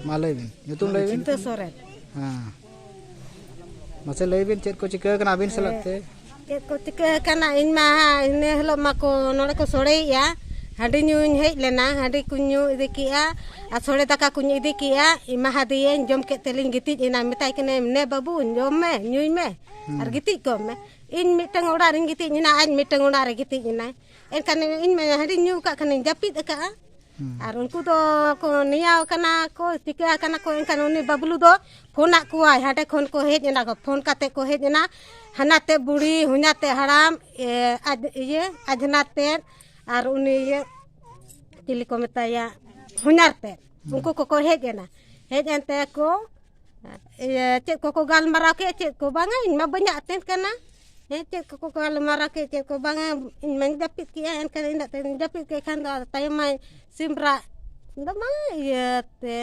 ᱢᱟ ᱞᱟᱹᱭ ᱵᱤᱱ ᱧᱩᱛᱩᱢ ᱞᱟᱹᱭ ᱵᱤᱱ ᱥᱚᱨᱮᱱ ᱦᱮᱸ ᱢᱟᱥᱮ ᱞᱟᱹᱭ ᱵᱤᱱ ᱪᱮᱫ ᱠᱚ ᱪᱤᱠᱟᱹ ᱠᱟᱱᱟ ᱟᱹᱵᱤᱱ ᱥᱟᱞᱟᱜ ᱛᱮ ᱪᱮᱫ ᱠᱚ ᱪᱤᱠᱟᱹ ᱠᱟᱱᱟ ᱤᱧ ᱢᱟ ᱤᱱᱟᱹ ᱦᱤᱞᱳᱜ ᱢᱟᱠᱚ ᱱᱚᱰᱮ ᱠᱚ ᱥᱚᱲᱮᱭᱮᱜᱼᱟ ᱦᱟᱺᱰᱤ ᱧᱩᱧ ᱦᱮᱡ ᱞᱮᱱᱟ ᱦᱟᱺᱰᱤ ᱠᱚᱧ ᱧᱩ ᱤᱫᱤ ᱠᱮᱜᱼᱟ ᱟᱨ ᱥᱚᱲᱮ ᱫᱟᱠᱟ ᱠᱚᱧ ᱤᱫᱤ ᱠᱮᱜᱼᱟ ᱮᱢᱟᱦᱟᱫᱮᱭᱟᱹᱧ ᱡᱚᱢ ᱠᱮᱫ ᱛᱮᱞᱤᱧ ᱜᱤᱛᱤᱡ ᱮᱱᱟ ᱢᱮᱛᱟᱭ ᱠᱟᱹᱱᱟᱹᱧ ᱱᱮ ᱵᱟᱹᱵᱩ ᱡᱚᱢ ᱢᱮ ᱧᱩᱭ ᱢᱮ ᱟᱨ ᱜᱤᱛᱤᱡ ᱠᱚᱜ ᱢᱮ ᱤᱧ ᱢᱤᱫᱴᱟᱝ ᱚᱲᱟᱜ ᱨᱤᱧ ᱜᱤᱛᱤᱡ ᱮᱱᱟ ᱟᱡ ᱢᱤᱫᱴᱟᱝ ᱚᱲᱟᱜ ᱨᱮ ᱜᱤᱛᱤᱡ ᱮᱱᱟᱭ ᱮᱱᱠᱷᱟᱱ ᱤᱧ ᱢᱟ ᱦᱟᱺᱰᱤᱧ ᱧᱩ ᱟᱠᱟᱫ ᱠᱷᱟᱱᱤᱧ ᱡᱟᱹᱯᱤᱫ ᱟᱠᱟᱫᱼᱟ ᱟᱨ ᱩᱱᱠᱩ ᱫᱚ ᱠᱚ ᱱᱮᱭᱟᱣ ᱠᱟᱱᱟ ᱠᱚ ᱪᱤᱠᱟᱹ ᱟᱠᱟᱱᱟ ᱠᱚ ᱮᱱᱠᱷᱟᱱ ᱩᱱᱤ ᱵᱟᱹᱵᱽᱞᱩ ᱫᱚ ᱯᱷᱳᱱᱟᱫ ᱠᱚᱣᱟᱭ ᱦᱟᱸᱰᱮ ᱠᱷᱚᱱ ᱠᱚ ᱦᱮᱡ ᱮᱱᱟ ᱠᱚ ᱯᱷᱳᱱ ᱠᱟᱛᱮᱫ ᱠᱚ ᱦᱮᱡ ᱮᱱᱟ ᱦᱟᱱᱟᱛᱮᱫ ᱵᱩᱲᱦᱤ ᱦᱚᱧᱦᱟᱛᱮᱫ ᱦᱟᱲᱟᱢ ᱟᱡ ᱤᱭᱟᱹ ᱟᱡᱷᱱᱟᱨᱛᱮᱫ ᱟᱨ ᱩᱱᱤ ᱤᱭᱟᱹ ᱪᱤᱞᱤ ᱠᱚ ᱢᱮᱛᱟᱭᱟ ᱦᱚᱧᱦᱟᱨᱛᱮᱫ ᱩᱱᱠᱩ ᱠᱚᱠᱚ ᱦᱮᱡ ᱮᱱᱟ ᱦᱮᱡ ᱮᱱ ᱛᱮᱠᱚ ᱤᱭᱟᱹ ᱪᱮᱫ ᱠᱚᱠᱚ ᱜᱟᱞᱢᱟᱨᱟᱣ ᱠᱮᱫ ᱪᱮᱫ ᱠᱚ ᱵᱟᱝᱟ ᱤᱧ ᱢᱟ ᱵᱟᱹᱧ ᱟᱛᱮᱱ ᱠᱟᱱᱟ ᱦᱮᱸ ᱪᱮᱫ ᱠᱚᱠᱚ ᱜᱟᱞᱢᱟᱨᱟᱣ ᱠᱮᱫ ᱪᱮᱫ ᱠᱚ ᱵᱟᱝᱟ ᱤᱧ ᱢᱟᱧ ᱡᱟᱹᱯᱤᱫ ᱠᱮᱜᱼᱟ ᱮᱱᱠᱷᱟᱱ ᱤᱱᱟᱹᱜ ᱛᱮᱧ ᱡᱟᱹᱯᱤᱫ ᱠᱮᱫ ᱠᱷᱟᱱ ᱫᱚ ᱟᱫᱚ ᱛᱟᱭᱚᱢ ᱢᱟᱭ ᱥᱤᱢ ᱨᱟᱜ ᱫᱚ ᱵᱟᱝ ᱤᱭᱟᱹ ᱛᱮ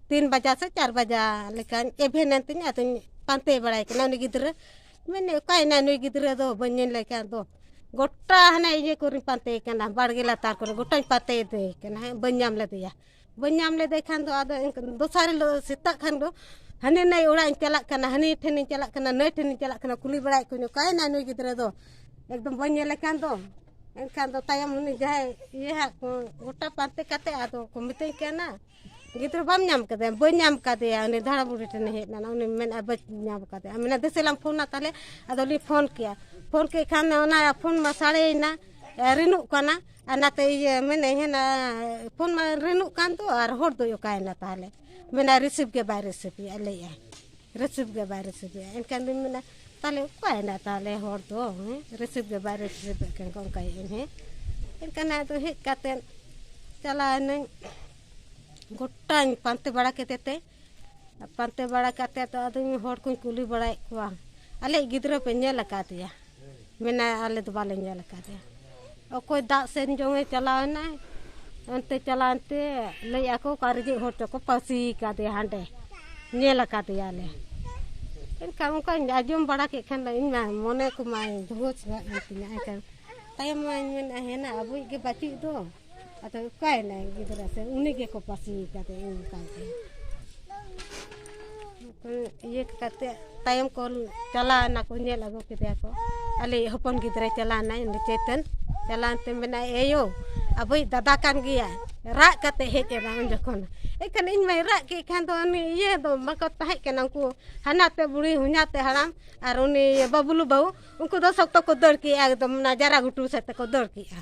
ᱛᱤᱱ ᱵᱟᱡᱟ ᱥᱮ ᱪᱟᱨ ᱵᱟᱡᱟ ᱞᱮᱠᱟᱧ ᱮᱵᱷᱮᱱᱮᱱ ᱛᱤᱧ ᱟᱫᱚᱧ ᱯᱟᱱᱛᱮ ᱵᱟᱲᱟᱭᱮ ᱠᱟᱱᱟ ᱩᱱᱤ ᱜᱤᱫᱽᱨᱟᱹ ᱢᱮᱱᱮᱫ ᱚᱠᱟᱭᱮᱱᱟᱭ ᱱᱩᱭ ᱜᱤᱫᱽᱨᱟᱹ ᱫᱚ ᱵᱟᱹᱧ ᱧᱮᱞᱮ ᱠᱟᱱ ᱫᱚ ᱜᱚᱴᱟ ᱦᱟᱱᱮ ᱤᱭᱟᱹ ᱠᱚᱨᱮᱧ ᱯᱟᱱᱛᱮᱭᱮ ᱠᱟᱱᱟ ᱵᱟᱲᱜᱮ ᱞᱟᱛᱟᱨ ᱠᱚᱨᱮ ᱜᱚᱴᱟᱧ ᱯᱟᱱᱛᱮᱭᱮᱫᱮ ᱠᱟᱱᱟ ᱦᱮᱸ ᱵᱟᱹᱧ ᱧᱟᱢ ᱞᱮᱫᱮᱭᱟ ᱵᱟᱹᱧ ᱧᱟᱢ ᱞᱮᱫᱮ ᱠᱷᱟᱱ ᱫᱚ ᱟᱫᱚ ᱫᱚᱥᱟᱨ ᱦᱤᱞᱳᱜ ᱥᱮᱛᱟᱜ ᱠᱷᱟᱱ ᱫᱚ ᱦᱟᱹᱱᱤ ᱱᱟᱹᱭ ᱚᱲᱟᱜ ᱤᱧ ᱪᱟᱞᱟᱜ ᱠᱟᱱᱟ ᱦᱟᱹᱱᱤ ᱴᱷᱮᱱᱤᱧ ᱪᱟᱞᱟᱜ ᱠᱟᱱᱟ ᱱᱟᱹᱭ ᱴᱷᱮᱱᱤᱧ ᱪᱟᱞᱟᱜ ᱠᱟᱱᱟ ᱠᱩᱞᱤ ᱵᱟᱲᱟᱭᱮᱫ ᱠᱚᱣᱟᱧ ᱚᱠᱟᱭᱮᱱᱟᱭ ᱱᱩᱭ ᱜᱤᱫᱽᱨᱟᱹ ᱫᱚ ᱮᱠᱫᱚᱢ ᱵᱟᱹᱧ ᱧᱮᱞᱮ ᱠᱟᱱ ᱫᱚ ᱮᱱᱠᱷᱟᱱ ᱫᱚ ᱛᱟᱭᱚᱢ ᱩᱱᱤ ᱡᱟᱦᱟᱸᱭ ᱤᱭᱟᱹ ᱦᱟᱸᱜ ᱠᱚ ᱜᱚᱴᱟ ᱯᱟᱱᱛᱮ ᱠᱟᱛᱮ ᱟᱫᱚ ᱠᱚ ᱢᱤᱛᱟᱹᱧ ᱠᱟᱱᱟ ᱜᱤᱫᱽᱨᱟᱹ ᱵᱟᱢ ᱧᱟᱢ ᱠᱟᱫᱮᱭᱟ ᱵᱟᱹᱧ ᱧᱟᱢ ᱠᱟᱫᱮᱭᱟ ᱩᱱᱤ ᱫᱷᱟᱲᱟ ᱵᱩᱲᱦᱤ ᱴᱷᱮᱱᱮ ᱦᱮᱡ ᱞᱮᱱᱟ ᱩᱱᱤ ᱢᱮᱱᱟ ᱵᱟᱹᱧ ᱧᱟᱢ ᱠᱟᱫᱮᱭᱟ ᱢᱮᱱᱟ ᱫᱮᱥᱮᱞᱟᱢ ᱯᱷᱳᱱᱟ ᱛᱟᱦᱞᱮ ᱟᱫᱚᱞᱤᱧ ᱯᱷᱳᱱ ᱠᱮᱭᱟ ᱯᱷᱳᱱ ᱠᱮᱫ ᱠᱷᱟᱱ ᱚᱱᱟ ᱯᱷᱳᱱ ᱢᱟ ᱥᱟᱲᱮᱭᱮᱱᱟ ᱨᱤᱱᱚᱜ ᱠᱟᱱᱟ ᱟᱨ ᱚᱱᱟᱛᱮ ᱤᱭᱟᱹ ᱢᱮᱱᱮᱫ ᱦᱮᱱᱟ ᱯᱷᱳᱱ ᱢᱟ ᱨᱤᱱᱚᱜ ᱠᱟᱱ ᱫᱚ ᱟᱨ ᱦᱚᱲ ᱫᱚᱭ ᱚᱠᱟᱭᱮᱱᱟ ᱛᱟᱦᱚᱞᱮ ᱢᱮᱱᱟᱭ ᱨᱤᱥᱤᱵᱷ ᱜᱮ ᱵᱟᱭ ᱨᱤᱥᱤᱵᱷᱮᱜᱼᱟ ᱞᱟᱹᱭᱮᱜᱼᱟᱭ ᱨᱤᱥᱤᱵᱷ ᱜᱮ ᱵᱟᱭ ᱨᱤᱥᱤᱵᱷᱮᱜᱼᱟ ᱮᱱᱠᱷᱟᱱ ᱫᱚᱧ ᱢᱮᱱᱟ ᱛᱟᱦᱚᱞᱮ ᱚᱠᱟᱭᱮᱱᱟ ᱛᱟᱦᱚᱞᱮ ᱦᱚᱲ ᱫᱚ ᱦᱮᱸ ᱨᱤᱥᱤᱵᱷ ᱜᱮ ᱵᱟᱭ ᱨᱤᱥᱤᱵᱷᱮᱫ ᱠᱷᱟᱱ ᱠᱚ ᱚᱱᱠᱟᱭᱮᱫ ᱟᱹᱧ ᱦᱮᱸ ᱮᱱᱠᱷᱟᱱ ᱟᱫᱚ ᱦᱮᱡ ᱠᱟᱛᱮᱫ ᱪᱟᱞᱟᱣ ᱮᱱᱟᱹᱧ ᱜᱚᱴᱟᱧ ᱯᱟᱱᱛᱮ ᱵᱟᱲᱟ ᱠᱮᱫᱮᱛᱮ ᱯᱟᱱᱛᱮ ᱵᱟᱲᱟ ᱠᱟᱛᱮᱫ ᱫᱚ ᱟᱫᱚ ᱦᱚᱲ ᱠᱚᱧ ᱠᱩᱞᱤ ᱵᱟᱲᱟᱭᱮᱫ ᱠᱚᱣᱟ ᱟᱞᱮᱭᱤᱡ ᱜᱤᱫᱽᱨᱟᱹ ᱯᱮ ᱧᱮᱞ ᱟᱠᱟᱫᱮᱭᱟ ᱢᱮᱱᱟᱭᱟ ᱟᱞᱮ ᱫᱚ ᱵᱟᱞᱮ ᱧᱮᱞ ᱟᱠᱟᱫᱮᱭᱟ ᱚᱠᱚᱭ ᱫᱟᱜ ᱥᱮᱱ ᱡᱚᱝᱮ ᱪᱟᱞᱟᱣ ᱮᱱᱟᱭ ᱚᱱᱛᱮ ᱪᱟᱞᱟᱣᱮᱱ ᱛᱮ ᱞᱟᱹᱭ ᱟᱠᱚ ᱚᱠᱟ ᱨᱮᱡᱮ ᱦᱚᱲ ᱪᱚᱠᱚ ᱯᱟᱹᱥᱤ ᱠᱟᱫᱮᱭᱟ ᱦᱟᱸᱰᱮ ᱧᱮᱞ ᱟᱠᱟᱫᱮᱭᱟᱞᱮ ᱮᱱᱠᱷᱟᱱ ᱚᱱᱠᱟᱧ ᱟᱸᱡᱚᱢ ᱵᱟᱲᱟ ᱠᱮᱫ ᱠᱷᱟᱱ ᱫᱚ ᱤᱧ ᱢᱟ ᱢᱚᱱᱮ ᱠᱚᱢᱟᱭ ᱫᱷᱩᱣᱟᱹ ᱪᱟᱵᱟᱜ ᱠᱟᱱ ᱛᱤᱧᱟᱹ ᱮᱱᱠᱷᱟᱱ ᱛᱟᱭᱚᱢ ᱢᱟᱧ ᱢᱮᱱᱟ ᱦᱮᱱᱟ ᱟᱵᱚᱭᱤᱡ ᱜᱮ ᱵᱟᱹᱪᱩᱜ ᱫᱚ ᱟᱫᱚ ᱚᱠᱟᱭᱮᱱᱟᱭ ᱜᱤᱫᱽᱨᱟᱹ ᱥᱮ ᱩᱱᱤ ᱜᱮᱠᱚ ᱯᱟᱹᱥᱤ ᱠᱟᱫᱮ ᱚᱱᱠᱟᱭ ᱛᱮ ᱤᱭᱟᱹ ᱠᱟᱛᱮ ᱛᱟᱭᱚᱢ ᱠᱚ ᱪᱟᱞᱟᱣ ᱮᱱᱟᱠᱚ ᱧᱮᱞ ᱟᱹᱜᱩ ᱠᱮᱫᱮᱭᱟ ᱠᱚ ᱟᱞᱮᱭᱤᱡ ᱦᱚᱯᱚᱱ ᱜᱤᱫᱽᱨᱟᱹ ᱪᱟᱞᱟᱣᱱᱟᱭ ᱩᱱᱤ ᱪᱳᱭᱛᱚᱱ ᱪᱟᱞᱟᱣ ᱮᱱᱛᱮ ᱢᱮᱱᱟᱭ ᱮᱭᱳ ᱟᱵᱚᱭᱤᱡ ᱫᱟᱫᱟ ᱠᱟᱱ ᱜᱮᱭᱟᱭ ᱨᱟᱜ ᱠᱟᱛᱮ ᱦᱮᱡ ᱮᱱᱟ ᱩᱱ ᱡᱚᱠᱷᱚᱱ ᱮᱱᱠᱷᱟᱱ ᱤᱧ ᱢᱟᱭ ᱨᱟᱜ ᱠᱮᱫ ᱠᱷᱟᱱ ᱫᱚ ᱩᱱᱤ ᱤᱭᱟᱹ ᱫᱚ ᱵᱟᱠᱚ ᱛᱟᱦᱮᱸ ᱠᱟᱱᱟ ᱩᱱᱠᱩ ᱦᱟᱱᱟᱛᱮ ᱵᱩᱲᱦᱤ ᱦᱚᱧᱦᱟᱛᱮ ᱦᱟᱲᱟᱢ ᱟᱨ ᱩᱱᱤ ᱵᱟᱹᱵᱽᱞᱩ ᱵᱟᱹᱦᱩ ᱩᱱᱠᱩ ᱫᱚ ᱥᱚᱠᱛᱚ ᱠᱚ ᱫᱟᱹᱲ ᱠᱮᱜᱼᱟ ᱮᱠᱫᱚᱢ ᱚᱱᱟ ᱡᱟᱨᱟ ᱜᱷᱩᱴᱩ ᱥᱮᱫ ᱛᱮᱠᱚ ᱫᱟᱹᱲ ᱠᱮᱜᱼᱟ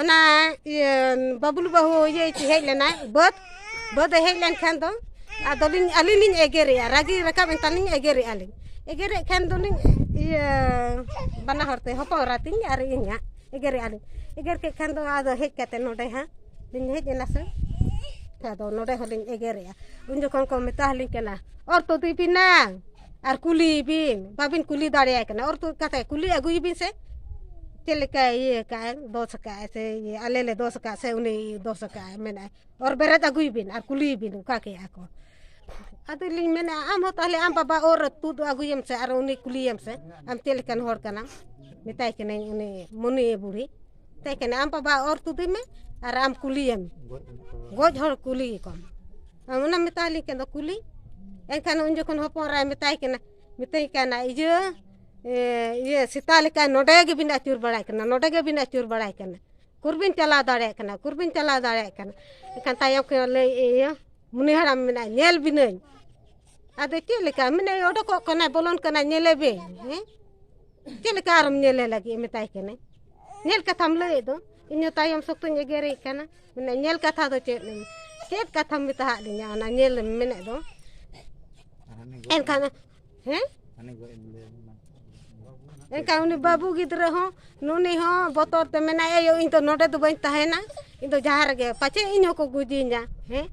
ᱚᱱᱟ ᱤᱭᱟᱹ ᱵᱟᱹᱵᱽᱞᱩ ᱵᱟᱹᱦᱩ ᱤᱭᱟᱹ ᱦᱮᱡ ᱞᱮᱱᱟᱭ ᱵᱟᱹᱫᱽ ᱵᱟᱹᱫᱽ ᱮ ᱦᱮᱡ ᱞᱮᱱᱠᱷᱟᱱ ᱫᱚ ᱟᱫᱚᱞᱤᱧ ᱟᱹᱞᱤᱧ ᱞᱤᱧ ᱮᱜᱮᱨᱮᱜᱼᱟ ᱨᱟᱹᱜᱤ ᱨᱟᱠᱟᱵ ᱮᱱ ᱛᱟᱹᱞᱤᱧ ᱮᱜᱮᱨᱮᱜᱼᱟ ᱞᱤᱧ ᱮᱜᱮᱨᱮᱜ ᱠᱷᱟᱱ ᱫᱚᱞᱤᱧ ᱤᱭᱟᱹ ᱵᱟᱱᱟ ᱦᱚᱲᱛᱮ ᱦᱚᱯᱚᱱ ᱮᱨᱟ ᱛᱤᱧ ᱟᱨ ᱤᱧ ᱦᱟᱸᱜ ᱮᱜᱮᱨᱮᱜᱼᱟ ᱞᱤᱧ ᱮᱜᱮᱨ ᱠᱮᱫ ᱠᱷᱟᱱ ᱫᱚ ᱟᱫᱚ ᱦᱮᱡ ᱠᱟᱛᱮ ᱱᱚᱰᱮ ᱦᱟᱸᱜ ᱞᱤᱧ ᱦᱮᱡ ᱮᱱᱟ ᱥᱮ ᱟᱫᱚ ᱱᱚᱰᱮ ᱦᱚᱸᱞᱤᱧ ᱮᱜᱮᱨᱮᱜᱼᱟ ᱩᱱ ᱡᱚᱠᱷᱚᱱ ᱠᱚ ᱢᱮᱛᱟ ᱟᱹᱞᱤᱧ ᱠᱟᱱᱟ ᱚᱨ ᱛᱩᱫᱮ ᱯᱮ ᱱᱟᱝ ᱟᱨ ᱠᱩᱞᱤᱭᱮᱵᱤᱱ ᱵᱟᱹᱵᱤᱱ ᱠᱩᱞᱤ ᱫᱟᱲᱮᱭᱟᱭ ᱠᱟᱱᱟ ᱚᱨ ᱛᱩᱫ ᱠᱟᱛᱮᱫ ᱠᱩᱞᱤ ᱟᱹᱜᱩᱭᱮᱵᱤᱱ ᱥᱮ ᱪᱮᱫ ᱞᱮᱠᱟᱭ ᱤᱭᱟᱹ ᱟᱠᱟᱫ ᱟᱭ ᱫᱳᱥ ᱟᱠᱟᱫ ᱟᱭ ᱥᱮ ᱤᱭᱟᱹ ᱟᱞᱮ ᱞᱮ ᱫᱳᱥ ᱟᱠᱟᱫ ᱥᱮ ᱩᱱᱤ ᱫᱳᱥ ᱟᱠᱟᱫ ᱟᱭ ᱢᱮᱱᱟᱭ ᱚᱨ ᱵᱮᱨᱮᱫ ᱟᱹᱜᱩᱭᱮᱵᱤᱱ ᱟᱨ ᱠᱩᱞᱤᱭᱮᱵᱤᱱ ᱚᱠᱟ ᱠᱮᱫᱼᱟ ᱠᱚ ᱟᱫᱚ ᱞᱤᱧ ᱢᱮᱱᱮᱫᱼᱟ ᱟᱢ ᱦᱚᱸ ᱛᱟᱦᱚᱞᱮ ᱟᱢ ᱵᱟᱵᱟ ᱚᱨ ᱛᱩᱫ ᱟᱹᱜᱩᱭᱮᱢ ᱥᱮ ᱟᱨ ᱩᱱᱤ ᱠᱩᱞᱤᱭᱮᱢ ᱥᱮ ᱟᱢ ᱪᱮᱫ ᱞᱮᱠᱟᱱ ᱦᱚᱲ ᱠᱟᱱᱟᱢ ᱢᱮᱛᱟᱭ ᱠᱟᱹᱱᱟᱹᱧ ᱩᱱᱤ ᱢᱩᱱᱤ ᱵᱩᱲᱦᱤ ᱢᱮᱛᱟᱭ ᱠᱟᱹᱱᱟᱹᱧ ᱟᱢ ᱵᱟᱵᱟ ᱚᱨ ᱛᱩᱫᱮ ᱢᱮ ᱟᱨ ᱟᱢ ᱠᱩᱞᱤᱭᱮᱢ ᱜᱚᱡ ᱦᱚᱲ ᱠᱩᱞᱤ ᱠᱚᱢ ᱟᱢ ᱚᱱᱟᱢ ᱢᱮᱛᱟᱭ ᱞᱤᱧ ᱠᱟᱱᱟ ᱠᱩᱞᱤ ᱮᱱᱠᱷᱟᱱ ᱩᱱ ᱡᱚᱠᱷᱚᱱ ᱦᱚᱯᱚᱱ ᱮᱨᱟᱭ ᱢᱮᱛᱟᱭ ᱠᱟᱱᱟ ᱢᱤᱛᱟᱹᱧ ᱠᱟᱱᱟ ᱤᱭᱟᱹ ᱤᱭᱟᱹ ᱥᱮᱛᱟ ᱞᱮᱠᱟ ᱱᱚᱰᱮ ᱜᱮᱵᱤᱱ ᱟᱹᱪᱩᱨ ᱵᱟᱲᱟᱭ ᱠᱟᱱᱟ ᱱᱚᱰᱮ ᱜᱮᱵᱤᱱ ᱟᱹᱪᱩᱨ ᱵᱟᱲᱟᱭ ᱠᱟᱱᱟ ᱩᱠᱩᱨᱵᱤᱱ ᱪᱟᱞᱟᱣ ᱫᱟᱲᱮᱭᱟᱜ ᱠᱟᱱᱟ ᱩᱠᱩᱨᱵᱤᱱ ᱪᱟᱞᱟᱣ ᱫᱟᱲᱮᱭᱟᱜ ᱠᱟᱱᱟ ᱮᱱᱠᱷᱟᱱ ᱛᱟᱭᱚᱢ ᱠᱷᱚᱱ ᱞᱟᱹᱭ ᱤᱭᱟᱹ ᱢᱩᱱᱤ ᱦᱟᱲᱟᱢ ᱢᱮᱱᱟᱭ ᱧᱮᱞ ᱵᱤᱱᱟᱹᱧ ᱟᱫᱚ ᱪᱮᱫ ᱞᱮᱠᱟ ᱢᱮᱱᱟᱭ ᱚᱰᱚᱠᱚᱜ ᱠᱟᱱᱟᱭ ᱵᱚᱞᱚᱱ ᱠᱟᱱᱟᱭ ᱧᱮᱞᱮ ᱵᱤᱱ ᱦᱮᱸ ᱪᱮᱫ ᱞᱮᱠᱟ ᱟᱨᱚᱢ ᱧᱮᱞᱮ ᱞᱟᱹᱜᱤᱫ ᱢᱮᱛᱟᱭ ᱠᱟᱹᱱᱟᱹᱧ ᱧᱮᱞ ᱠᱟᱛᱷᱟᱢ ᱞᱟᱹᱭᱮᱫ ᱫᱚ ᱤᱧᱦᱚᱸ ᱛᱟᱭᱚᱢ ᱥᱚᱠᱛᱚᱧ ᱮᱜᱮᱨᱮ ᱠᱟᱱᱟ ᱢᱟᱱᱮ ᱧᱮᱞ ᱠᱟᱛᱷᱟ ᱫᱚ ᱪᱮᱫ ᱪᱮᱫ ᱠᱟᱛᱷᱟᱢ ᱢᱮᱛᱟᱦᱟᱜ ᱞᱤᱧᱟ ᱚᱱᱟ ᱧᱮᱞ ᱢᱮᱱᱮᱫ ᱫᱚ ᱮᱱᱠᱷᱟᱱ ᱦᱮᱸ ᱮᱱᱠᱷᱟᱱ ᱩᱱᱤ ᱵᱟᱹᱵᱩ ᱜᱤᱫᱽᱨᱟᱹ ᱦᱚᱸ ᱱᱩᱱᱤ ᱦᱚᱸ ᱵᱚᱛᱚᱨ ᱛᱮ ᱢᱮᱱᱟᱭ ᱟᱭᱳ ᱤᱧ ᱫᱚ ᱱᱚᱰᱮ ᱫᱚ ᱵᱟᱹᱧ ᱛᱟᱦᱮᱱᱟ ᱤᱧ ᱫᱚ ᱡᱟᱦᱟᱸ ᱨᱮᱜᱮ ᱯᱟᱪᱮ ᱤᱧ ᱦᱚᱸᱠᱚ ᱜᱩᱡᱤᱧᱟ ᱦᱮᱸ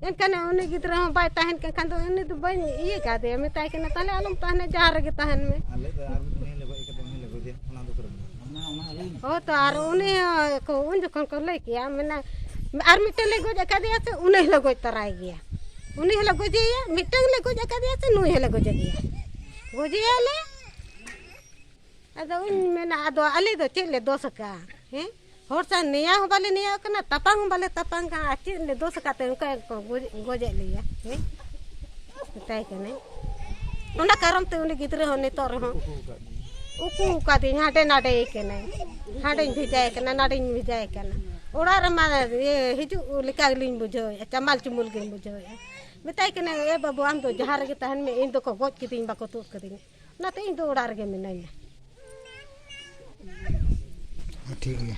ᱮᱱᱠᱷᱟᱱ ᱩᱱᱤ ᱜᱤᱫᱽᱨᱟᱹ ᱦᱚᱸ ᱵᱟᱭ ᱛᱟᱦᱮᱱ ᱠᱟᱱ ᱠᱷᱟᱱ ᱫᱚ ᱩᱱᱤ ᱫᱚ ᱵᱟᱹᱧ ᱤᱭᱟᱹ ᱠᱟᱫᱮᱭᱟ ᱢᱮᱛᱟᱭ ᱠᱟᱱᱟ ᱛᱟᱦᱚᱞᱮ ᱟᱞᱚᱢ ᱛᱟᱦᱮᱱᱟ ᱡᱟᱦᱟᱸ ᱨᱮᱜᱮ ᱛᱟᱦᱮᱱ ᱢᱮ ᱦᱳᱭ ᱛᱚ ᱟᱨ ᱩᱱᱤ ᱠᱚ ᱩᱱ ᱡᱚᱠᱷᱚᱱ ᱠᱚ ᱞᱟᱹᱭ ᱠᱮᱭᱟ ᱢᱮᱱᱟ ᱟᱨ ᱢᱤᱫᱴᱮᱱ ᱞᱮ ᱜᱚᱡ ᱟᱠᱟᱫᱮᱭᱟ ᱥᱮ ᱩᱱᱤ ᱦᱚᱸᱞᱮ ᱜᱚᱡ ᱛᱟᱨᱟᱭ ᱜᱮᱭᱟ ᱩᱱᱤ ᱦᱚᱸᱞᱮ ᱜᱚᱡᱮᱭᱟ ᱢᱤᱫᱴᱟᱝ ᱞᱮ ᱜᱚᱡ ᱟᱠᱟᱫᱮᱭᱟ ᱥᱮ ᱱᱩᱭ ᱦᱚᱸᱞᱮ ᱜᱚᱡᱮ ᱜᱮᱭᱟ ᱜᱚᱡᱮᱭᱟᱞᱮ ᱟᱫᱚ ᱩᱱ ᱢᱮᱱᱟ ᱟᱫᱚ ᱟᱞᱮ ᱫᱚ ᱪᱮᱫ ᱞᱮ ᱫᱳᱥ ᱟᱠᱟᱫᱼᱟ ᱦᱮᱸ ᱦᱚᱲ ᱥᱟᱶ ᱱᱮᱭᱟᱣ ᱦᱚᱸ ᱵᱟᱞᱮ ᱱᱮᱭᱟᱣ ᱠᱟᱱᱟ ᱛᱟᱯᱟᱢ ᱦᱚᱸ ᱵᱟᱞᱮ ᱛᱟᱯᱟᱢ ᱠᱟᱱᱟ ᱟᱨ ᱪᱮᱫ ᱞᱮ ᱫᱳᱥ ᱟᱠᱟᱫ ᱛᱮ ᱚᱱᱠᱟ ᱜᱮᱠᱚ ᱜᱚᱡᱮᱫ ᱞᱮᱭᱟ ᱦᱮᱸ ᱢᱮᱛᱟᱭ ᱠᱟᱹᱱᱟᱹᱧ ᱚᱱᱟ ᱠᱟᱨᱚᱱ ᱛᱮ ᱩᱱᱤ ᱜᱤᱫᱽᱨᱟᱹ ᱦᱚᱸ ᱱᱤᱛᱚᱜ ᱨᱮᱦᱚᱸ ᱩᱠᱩ ᱟᱠᱟᱫᱤᱧ ᱦᱟᱸᱰᱮ ᱱᱟᱰᱮᱭ ᱠᱟᱹᱱᱟᱹᱧ ᱦᱟᱸᱰᱮᱧ ᱵᱷᱮᱡᱟᱭ ᱠᱟᱱᱟ ᱱᱟᱰᱮᱧ ᱵᱷᱮᱡᱟᱭ ᱠᱟᱱᱟ ᱚᱲᱟᱜ ᱨᱮᱢᱟ ᱦᱤᱡᱩᱜ ᱞᱮᱠᱟ ᱜᱮᱞᱤᱧ ᱵᱩᱡᱷᱟᱹᱣᱮᱫᱼᱟ ᱪᱟᱢᱟᱞ ᱪᱩᱢᱩᱞ ᱜᱤᱧ ᱵᱩᱡᱷᱟᱹᱣᱮᱫᱼᱟ ᱢᱮᱛᱟᱭ ᱠᱟᱹᱱᱟᱹᱧ ᱮ ᱵᱟᱹᱵᱩ ᱟᱢ ᱫᱚ ᱡᱟᱦᱟᱸ ᱨᱮᱜᱮ ᱛᱟᱦᱮᱱ ᱢᱮ ᱤᱧ ᱫᱚᱠᱚ ᱜᱚᱡ ᱠᱤᱫᱤᱧ ᱵᱟᱠᱚ ᱛᱩᱫ ᱠᱟᱹᱫᱤᱧᱟ ᱚᱱᱟᱛᱮ ᱤᱧ ᱫᱚ ᱚᱲᱟᱜ ᱨᱮᱜᱮ ᱢᱤᱱᱟᱹᱧᱟ ᱴᱷᱤᱠ ᱜᱮᱭᱟ